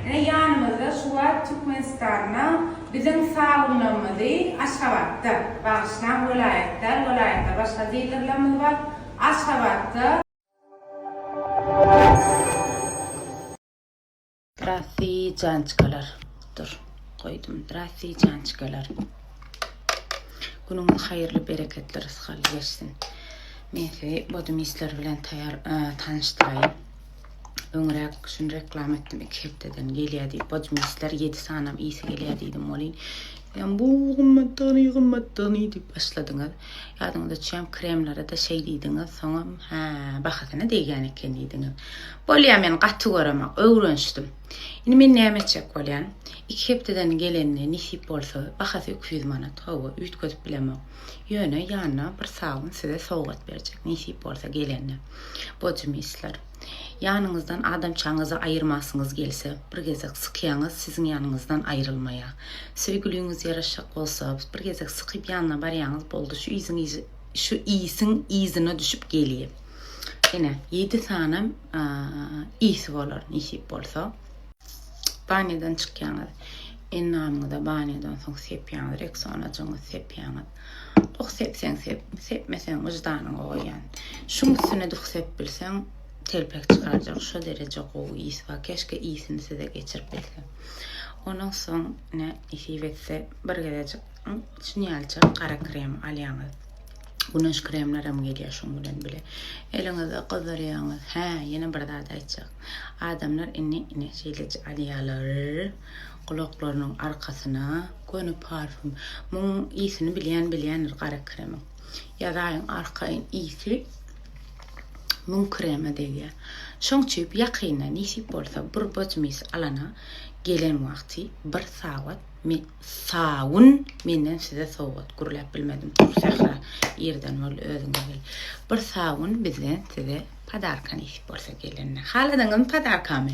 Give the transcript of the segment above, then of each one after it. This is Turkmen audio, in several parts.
Ine ýanymyzda şu wagt Türkmenistanda biziň salgynlarymyzy Aşgabatda, bagyşlaň welaýat däl welaýatda başga dilerlerimiz bar, Aşgabatda, Zdrastii jançkalar Dur goýdum Zdrastii jançkalar Günüňiz haýyrly bereketli rysgaly geçsin Men sizi bodum işler bilen taýar tanyşdyraýyn. Öňräk şuny reklama etdim iki hepdeden gelýär diýip. Bojmisler ýedi sanam iýsi gelýär diýdim welin. Ýam bu gymmatdygyny, gymmatdygyny diýip başladyňyz. Ýadyňyza düşýän kremlere-de şeý diýdiňiz, soňam hä, bahasyna degýän eken diýdiňiz. Bolýar men gaty göremok, öwrenişdim. Indi men näme etjek bolýan? Iki hepdeden gelenini nesip bolsa, bahasy iki ýüz manat. Hawa, üýtgedip bilemok. Ýöne ýanyna bir sabyn size sowgat berjek, nesip bolsa gelende. Bodýumisler. Ýanyňyzdan adamçaňyzy aýyrmasyňyz gelse, bir gezek sykaýaňyz, siziň ýanyňyzdan aýrylmaýa. Söýgüliňiz ýaraşjak bolsa, bir gezek sykyp ýanyna barýaňyz, boldy, şu yzyň şu ýsiň yzyna düşüp gelýe. Ene, ýedi sany ýsy bolar, nesip bolsa. Banýadan çykýaňyz. Enamyňyza banýadan soň sepýaňyz, reksonajyňyzy sepýaňyz. Duh sepseň sep, sepmeseň wyždanyňa goýýan. Şuň üstüne duh sep bilseň, telpek çykarjak, şo dereje gowy ys bar. Keşke ysyny size geçirip bilsem. Onuň soň ine nesip etse bir gezejik şunýalçak gara krem alýaňyz. Güneş kremlerem gelýär şuň bilen bile. Eliňizi gyzdyrýaňyz. Hä, ýene bir zat aýtjak. Adamlar indi ine şeýleje alýarlar. Gulaklarynyň arkasyna göni parfýum. Muň ysini bilýän bilýändir gara kremiň. Ýazaýyň arkaýyn ysy muň krema degýär. Şoň çüýp ýakynda nesip bolsa burbaj mis alana gelen wagty bir sawat men sawun menden size sowgat gürläp bilmedim tur Sähra irden bol özüňe gel. Bir sawun bizden size padarka nesip bolsa gelende. Haladyňyzmy padarkamy?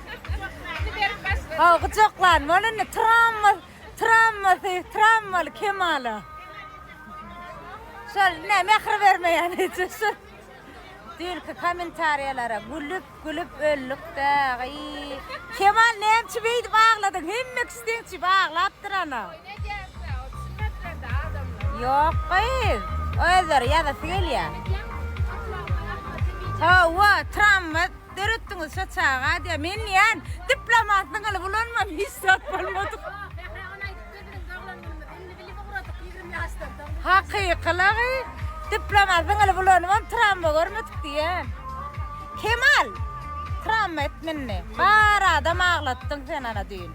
Haw gujaklan bol indi tramwa tramwasy tramwaly kemala. Şol ne mehri bermeýän hiç şu. Dürki kommentariýalara gülüp gülüp öldük de. Kemal näçe beýdip agladyň? Hemme kişiňçi baglapdyr ana. Ýok gyz. Özleri ýazasy gelýär. Hawa, tramwa Döretdiňiz şo çaga diýýär. Men diýýän, diplomany zyňylyp ulanman hiç zat bolmadyk. Hakykylygy, diplomany zyňylyp ulanybam tramwa görmedik diýýän. Kemal, tramwa et mindi. Bar adam aglatdyň sen ana düýn.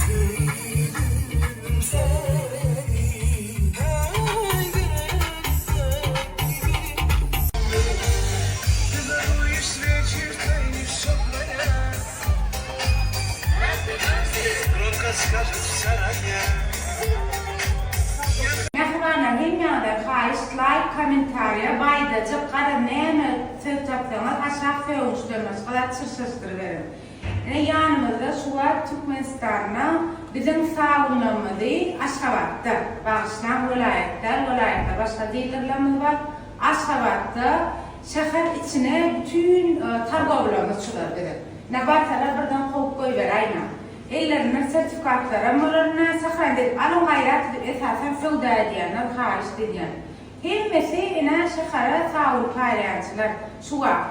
Söýdüm seni Taýsyz söýdüm seni Mähibana hemýaňyza haýyşt laýk komentariýa baýdajyk garaz näme söz tapsaňyz aşak sögünçden başga zat çyrşyryşdyryberiň. Ine ýanymyzda şu wagt Türkmenistanda biziň salgynlarymyzy Aşgabatda, bagyşlaň welaýat däl welaýatda başga dilerlerimiz bar, Aşgabatda şäher içine bütin targawlaryny çyzar biziň. Nä barsalar birden kowup goýberäýmäň. Ellerinden sertifikatlaram bolar nä sahran diýip alyň gaýrat edip esasan söwda edýänler haýyşt edýän. Hemmesi ine şähere sabun paýlaýançylar şu wagt.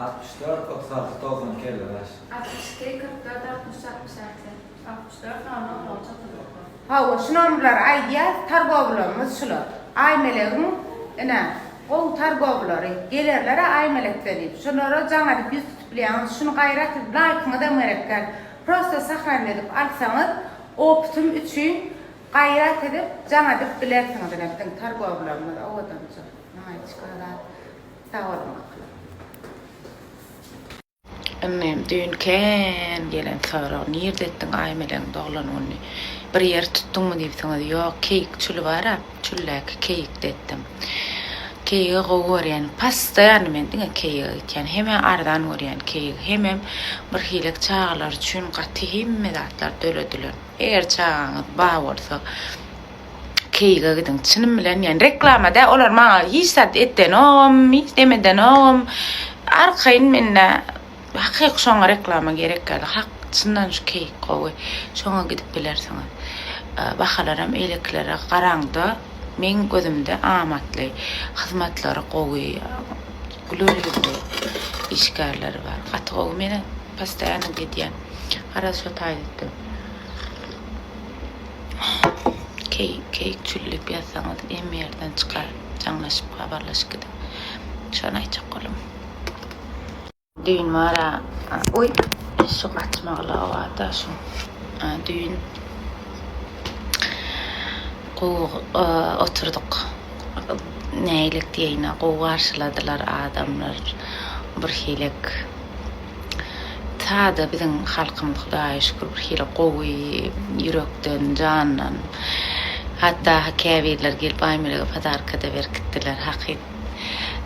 Altmyş dört, otuz alty, togsan iki, elli bäş. Altmyş iki, kyrk dört, altmyş, altmyş alty. Altmyş dört, nol, on, otuz, otuz dokuz. Hawa, şu nomerleri aýdýas, targowlarymyz şular. Aýmelegiň, ine, gowy targowlary, gelerler-ä Aýmelekden diýip. Şulara jaň edip ýüz tutup bilýäňiz. Şuny gaýrat edip, laýkyňyzam gerek däl. Prosta sahranit edip alsaňyz, opusym üçin gaýrat edip, jaň edip bilersiňiz. Ine, biziň targowlarymyz owadanjyk. Maýçka, zat. Sag boluň bakalym. Inim düýn kän gelen sorag nirde etdiň Aýmelegiň doglan gününi bir ýer tutduňmy diýipsiňiz ýok keýik çüli bara çüldäki keýikde etdim keýigi gowy görýän pastaýany men diňe keýigi gitýän heme arzan görýän keýigi hemem bir hilek çagalar üçin gaty hemme zatlar döredilen eger çagaňyz ba bolsa Keýige gidiň çynym bilen ýani reklama da olar maňa hiç zat etdenogam hiç neme edenogam arkaýyn mende hakyky şoňa reklama gerek ýaly hak çyndan şu keýik gowy şoňa gidip bilersiňiz bahalaram eýlekilere garaňda meň gözümde amatly hyzmatlary gowy güler ýüzli işgärleri bar gaty gowy mena postoýanno gidýän garaz şo taýda etdim. Keýik keýik çüllüp ýazsaňyz em ýerden çykar jaňlaşyp habarlaşyp gidiň şony aýtjak boldum. Düýn bara oý şu gaçmaglyga barda şu düýn gowy oturdyk nähilek diýeýine gowy garşyladylar adamlar birhilek. Sada biziň halkymyz hudaýa şükür birhili gowy, ýürekden, jandan. Hatda ha käbirleri gelip Aýmelege podarka-da berip gitdiler hakyt.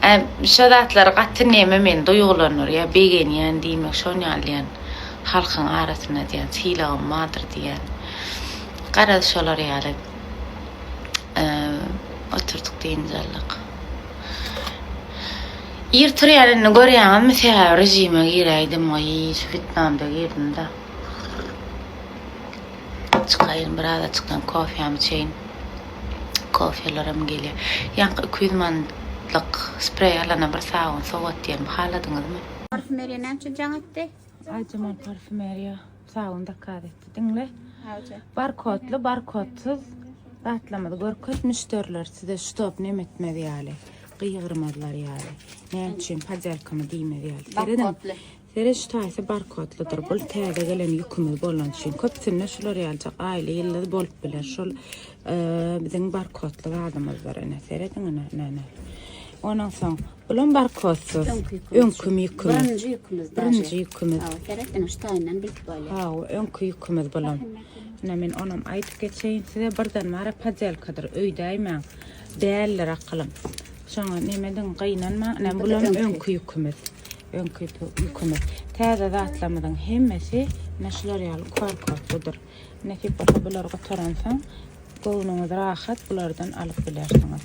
Ä şo zatlar gaty neme meni duýgulandyrýar, begenýän diýmek şon ýaly diýän halkyň arasynda diýän sylagym bardyr diýän. Garaz şolar ýaly oturdyk dynjaldyk. Ir turýar indi görýäňizmi sebäbi rejime giräýdim oýý şu fitnamda girdimda. Çykaýyn biraz açykdan kofýam içeýin. Kofýalaram gelýä. Ýaňky 200 manatlyk spreý alana bir sabyn sowat diýenimi haladyňyzmy? Parfümeriýa näçe jaň etdi? Aýjemal parfümeriýa. Sabun zakaz etdi. Diňle. Awje. Barkodly, barkodsuz zatlamyzy görkez müşderiler size stop nem etmez ýaly. Gyýgyrmazlar ýaly. Näme üçin podýalkamy diýmez ýaly. Barkodly. Seret şu taýsy barkodlydyr. Bu täze gelen ýükümiz bolan üçin köpsünde şular ýaljak aýly ýylly bolup biler. Şol e, biziň barkodly zadymyzdyr ene. Serediň ene. Onuň soň Bulam barkodsyz. Öňki ýükümiz. Birinji ýükümiz. Birinji ýükümiz. Hawa, gerek ene şu taýyndan bilip bolýar. Hawa, öňki ýükümiz bulam. Ine men onam aýdyp geçeýin size. Birden bara padelkadyr öýdäýmäň. Däldir akylyň. Şoňa nemediň, gynanmaň. Ine bulam öňki ýükümiz. Öňki ýükümiz. Täze zatlarymyzyň hemmesi ine şular ýaly korkotludyr. Nesip bolsa bular gutaransoň göwnüňiz rahat bulardan alyp bilersiňiz.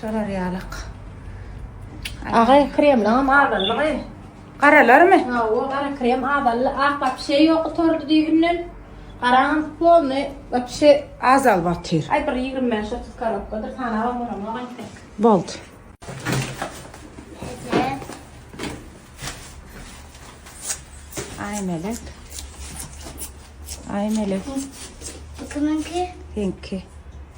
Şolar ýalak. Agay kremlaňam azaldy gaý. Garalarmy? Hawa, gara krem azaldy. Ak wapşe ýok gutardy düýbünden. Garaňam polny wapşe azalyp atyr. Aý bir ýigrimi bäş otuz korobkadyr sanabam bolanok entek. Boldy. Eje. Aý melek. Aý melek. Bu kimiňki? Seňki.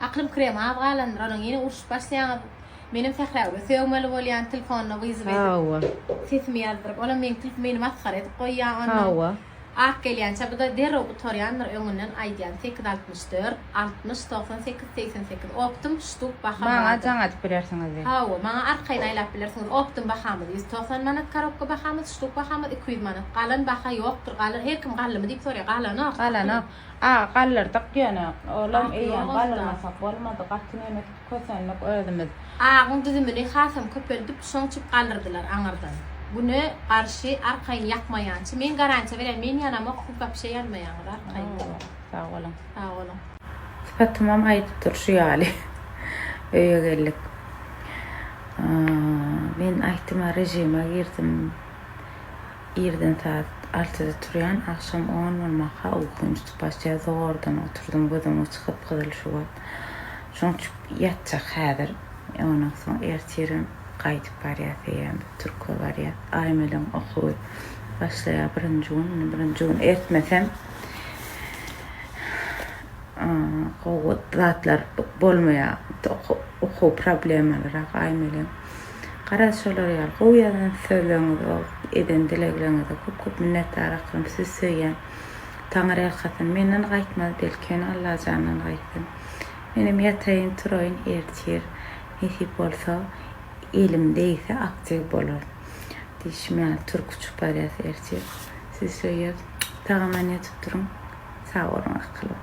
Aklym krem az galandyr onuň ýene urşup başlaýaňyz menem sähräwre sögmeli bolýan tilfonda wyzyp edip Hawa. sesimi ýazdyryp olam meň tilf meni masgara edip goýýa onnoň Hawa. ak gelýänçä bu da derrew gutarýandyr öňünden aýdýan sekiz altmyş dört altmyş togsan sekiz segsen sekiz optym ştuk baha Maňa bardyr jaň atyp bilersiňiz diý. Hawa maňa arkaýyn aýlap bilersiňiz optym bahamyz ýüz togsan manat karobka bahamyz ştuk bahamyz iki ýüz manat galan baha ýokdur galan her kim galdymy diýip soraýar galanok Galanok. A galdyrdyk ýöne, olam eýýäm galdyrmasak bolmady, gaty nemes kösendik özümiz. Agyň düzümini hasam köpeldip, şoň üçin galdyrdylar aňyrdan. Güne garşy arkaýyn ýakmaýançy, men garantiýa berýän, men ýanamok, siz wapşe ýanmaýaňyz arkaýyn. Sag boluň. Sag boluň. Sypatymam aýdyp dur şu ýaly. Öýe geldik. Men aýtdyma režime girdim. Irden saat altyda turýan, agşam on bolmaka uykym uçup başlaýar, zordan oturdym, gözüm uçy gyp-gyzyl şu wagt. Şoň üçin ýatjak häzir. Ondan soň ertirem gaýdyp barýas eýýäm, türküe barýas. Aýmeliň okuwy başlaýar birinji gün, indi birinji gün ertmesem gowy zatlar bolmaýar, okuw problemalyrk Aýmeliň. Garaz şolar ýaly gowy ýazan sözleriňize we eden dilegleriňize köp köp minnetdar akgym sizi söýýän Taňyr erkasyn menden gaýtmaz belkem Allajandan gaýtsyn menem ýataýyn turaýyn ertir nesip bolsa elim degse aktiw bolaryn diýşim ýaly turk uçup barýas ertir sizi söýýäs tagama ne tutduryň sag boluň akyllym.